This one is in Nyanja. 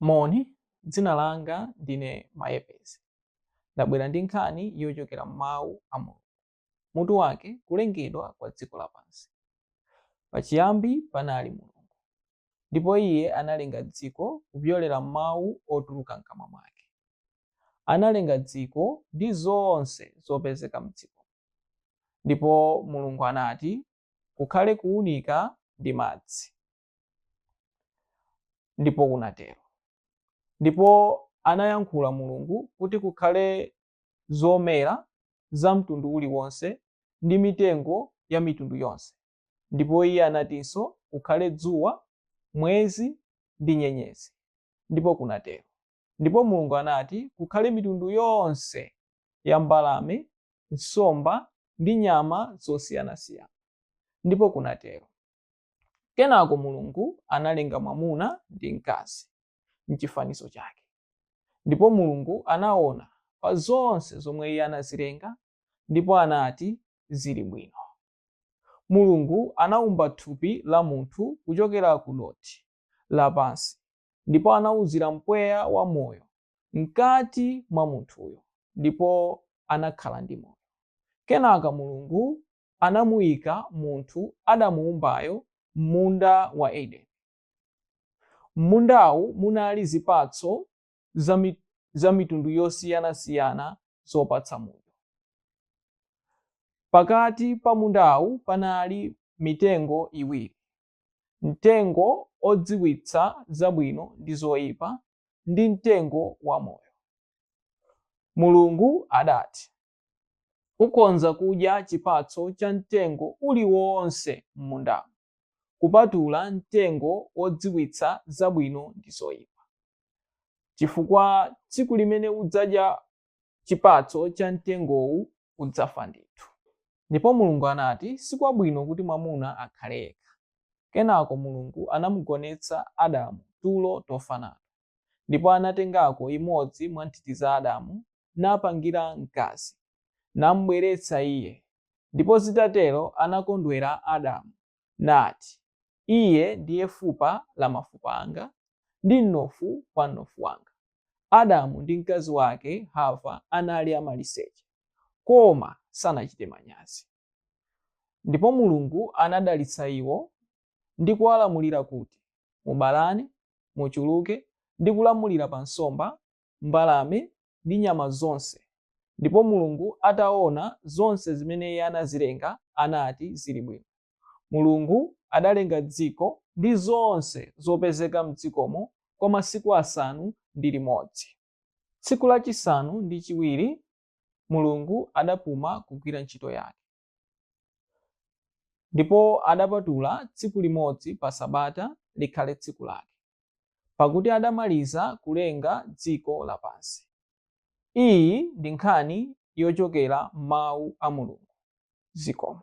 Moni, dzina langa ndine Mayepezi. Ndabwera ndi nkhani yochokera m'Mawu a Mulungu. Mutu wake, Kulengedwa kwa Dziko Lapansi. Pachiyambi panali Mulungu, ndipo iye analenga dziko kupyolera m'mawu otuluka m'kamwa mwake. Analenga dziko ndi zonse zopezeka m'dziko. Ndipo Mulungu anati, Kukhale kuunika ndi madzi. ndipo kunatero ndipo anayankhula mulungu kuti kukhale zomera za mtundu uliwonse ndi mitengo ya mitundu yonse ndipo iye anatinso kukhale dzuwa mwezi ndi nyenyezi ndipo kunatero ndipo mulungu anati kukhale mitundu yonse ya mbalame nsomba ndi nyama zosiyanasiyana ndipo kunatero Kenako Mulungu analenga mwamuna ndi mkazi m'chifanizo chake. Ndipo Mulungu anaona pa zonse zomwe iye anazilenga ndipo anati, Zili bwino. Mulungu anaumba thupi la munthu kuchokera ku dothi lapansi ndipo anauzira mpweya wa moyo mkati mwa munthuyo ndipo anakhala ndi moyo. Kenaka Mulungu anamuika munthu adamuumbayo m'munda wa Edeni. M'mundawu munali zipatso za mitundu yosiyanasiyana zopatsa mudyo. Pakati pa mundawu panali mitengo iwiri, mtengo odziwitsa zabwino ndi zoipa ndi mtengo wa moyo. Mulungu adati, Ukhonza kudya chipatso cha mtengo uliwonse m'mundamo, kupatula mtengo wodziwitsa zabwino ndi zoipa, chifukwa tsiku limene udzadya chipatso cha mtengowu udzafa ndithu. Ndipo Mulungu anati, Si kwabwino kuti mwamuna akhale yekha. Kenako Mulungu anamugonetsa Adamu tulo tofa nato. Ndipo anatengako imodzi mwa nthiti za Adamu, napangira mkazi, nam'bweretsa iye, ndipo zitatero anakondwera Adamu, nati, Iye ndiye fupa la mafupa anga, ndi mnofu wa mnofu wanga. Adamu ndi mkazi wake Hava anali amaliseche, koma sanachite manyazi. Ndipo Mulungu anadalitsa iwo ndi kuwalamulira kuti, Mubalane, muchuluke, ndi kulamulira pa nsomba, mbalame, ndi nyama zonse. Ndipo Mulungu atawona zonse zimene Iye anazilenga, anati, Ziri bwino. Mulungu adalenga dziko ndi zonse zopezeka mdzikomo kwa masiku asanu ndi limodzi. Tsiku lachisanu ndi chiwiri Mulungu adapuma kugwira ntchito yake. Ndipo adapatula tsiku limodzi pa Sabata likhale tsiku lake, pakuti adamaliza kulenga dziko lapansi. Iyi ndi nkhani yochokera m'Mawu a Mulungu. Zikomo.